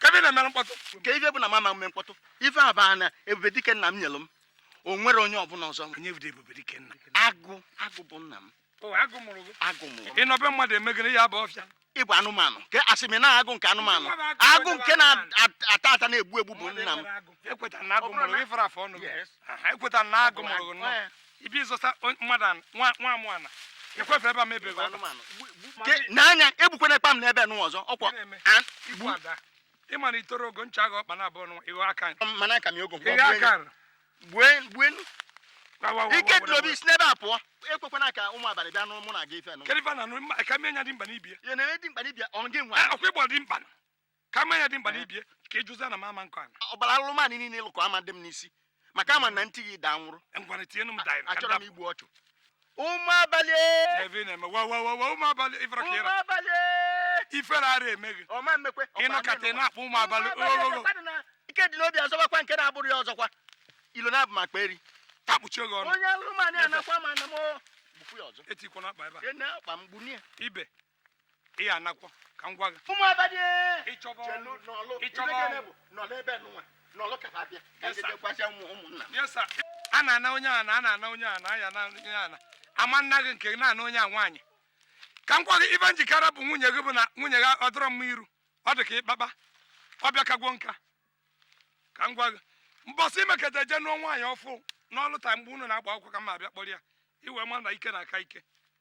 kebe ị na-eme mkpọtụ kee ife bụ na mụ ama mme mkpọtụ ife a baa na ebube dike nna m nyelụ m o nwere onye ọbụla ọzọ onye bụ ebube dike nna agụ agụ bụ nna m agụ mụrụ agụ mụrụ ị nọ be mmadụ eme gịnị naba ọfịa ị bụ anụmanụ nke asị m na agụ nke anụmanụ agụ nke na-ata ata na-egbu egbu bụ nna m ekweta na agụ mụrụ gị fara afọ ọnụ ekweta na agụ mụrụ ibi ịzọta mmadụ nwa amụ ana ekwefe ebe a mebiri n'anya ebukwana akpa m n'ebe nụ ọzọ ọkwọ igbu ada ị ma na i toro ogo ncha agha ọkpa na abụọ nwa ịghọ aka mana aka m ogo ịghọ aka gbue gbue ike dị obi si n'ebe a pụọ ekwekwana ka ụmụ abalị bịa n'ụmụ na aga ife nụ kedụ ife na nụ ka mmenya dimkpa n'ibe ya na-eme dimkpa n'ibe ọ gị nwa ọkwa ị bụ dimkpa ka ama ya dimkpa n'ibe ka ịjụzi ana m ama nkọ ana ọbara anụmanụ niile lụkọ ama dị m n'isi maka ama na ntị gị daa nwụrụ ngwana tienu m daịrị achọrọ m igbu ọchụ ụmụ abalị ebe ị na-eme wa wa wa wa ụmụ abalị ifere ka ịra abalị ifere ara eme gị ọma mmekwe ị nọkata ị na-akpọ ụmụ abalị ogogo ike dị obi azọbakwa nke na-abụrụ ya ọzọkwa ilo na-abụ m akpa eri takpuchie gị ọnụ onye anụmanụ anakwa ma na m bufu ya ọzọ etikwana akpa ebe a akpa m gbunie ibe ị ya anakwọ ka m gwa gị ụmụ abalị ịchọba ọrụ ịchọba ọrụ nọlụ ebe nụnwa nọlụ kaba abịa gwacha ụmụ ụmụnna a na-ana onye a na a na-ana onye a na aya na onye a na ama nna gị nke na-ana onye a nwaanyị ka m gwa gị ife njikere bụ nwunye gị bụ na nwunye gị ọ dịrọ mma iru ọ dị ka ịkpakpa ọ bịa kagwo nka ka m gwa gị mbọsị i meketa je nụọ nwaanyị ọfụ n'ọlụ taa mgbe unu na-agba akwụkwọ ka m abịa kpọrọ ya i wee ma na ike na-aka ike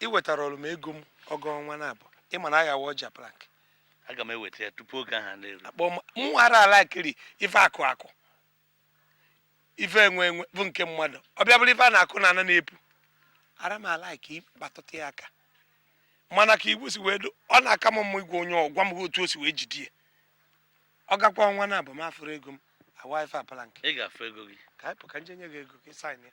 ị wetarọrọ m ego m ọ gaa ọnwa naabọ ị ma na a ga-awa ọjị a plank aga m eweta ya tupu oge ahụ na-eru akpọ m mụ ara ala kiri ife akụ akụ ife enwe enwe bụ nke mmadụ ọ bịa bụrụ ife a na-akụ na ana na-epu ara m ala ka ịkpatụta ya aka mana ka igwe si wee do ọ na-aka m mma igwe onye ọ gwa m otu o si wee jide ya ọ gakwa ọnwa naabọ m afụrọ ego m awaa ife a plank ị ga-afụ ego gị ka anyị pụ ka m je nye gị ego ka ị sign ya